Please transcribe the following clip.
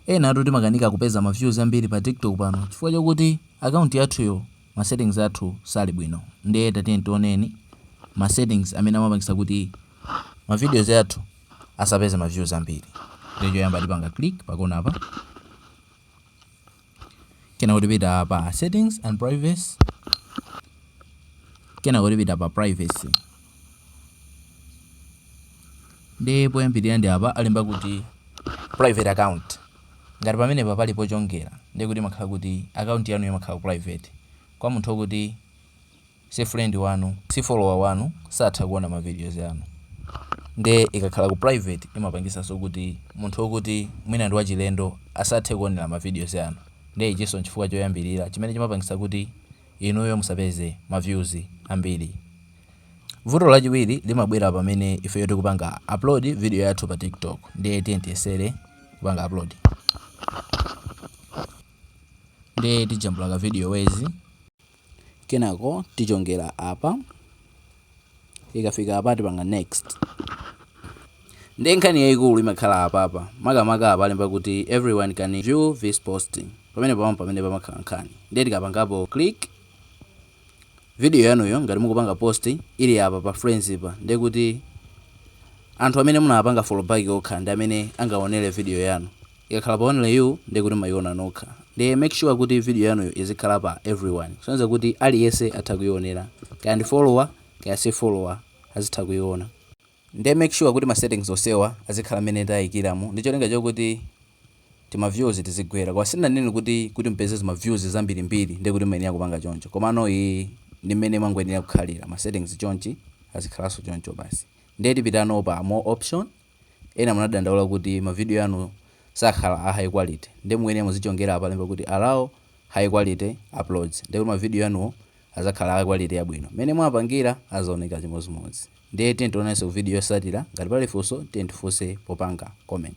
Enatu timakanika kupeza ma views ambiri pa TikTok pano chifukwa chokuti account yathuyo ma settings athu sali bwino ndiye tatiyeni tioneni ma settings amene amapangisa kuti ma videos athu asapeze ma views ambiri ndiye choyamba tipanga click pa kona apa kenako tipita pa settings and privacy kenako tipita pa privacy ndiye poyambirira ndi apa alemba kuti private account ngati pamenepa pali pochongera ndiye kuti imakhala kuti account yanu imakhala private kwa munthu okuti si friend wanu si follower wanu satha kuona ma videos anu ndiye ikakhala ku private imapangisanso kuti munthu okuti mwina ndi wachilendo asathe kuonera ma videos anu ndiye ichinso nchifukwa choyambirira chimene chimapangisa kuti inuyo musapeze ma views ambiri Vuto lachiwiri limabwera pamene ifeyo tikupanga upload video yathu pa TikTok ndiye tiye tiyesere kupanga upload ndiye tijambula ka video yathu kenako tichongera apa ikafika apa tipanga next ndiye nkhani yayikulu imakhala apapa makamaka apa alemba kuti everyone can view this posting apa mpamene pamakhala nkhani ndiye tikapangapo click Video yanuyo ngati mukupanga post ili apa pa friends pa ndekuti anthu amene munawapanga follow back okha ndi amene angayionere video yanu. Ikakhala pa only you ndekuti mmayiona nokha. Ndiye make sure kuti video yanuyo izikhala pa everyone. Kusonyeza kuti aliyense atha kuionera. Kaya ndi follower kaya si follower azitha kuiona. Nde make sure kuti ma settings onsewa azikhala mmene tayikiramu ndicholinga chokuti tima views tizigwera koma sindinanene kuti kuti mupeze zima views zambiri mbiri nde kuti muyenera kupanga choncho komano iyi ndi mmene mwangoyenera kukhalira ma settings chonchi azikhalanso choncho basi nde tipitano pa more option ena mumadandaula kuti ma video anu sakhala a high quality nde mukuyenera muzichongera apa alemba kuti allow high quality uploads nde kuti ma video anuwo azakhala a quality yabwino mmene mwapangira azaoneka chimodzimodzi Ndiye tiyeni tionanenso ku video yotsatira, ngati pali funso tiyeni tifunse popanga comment.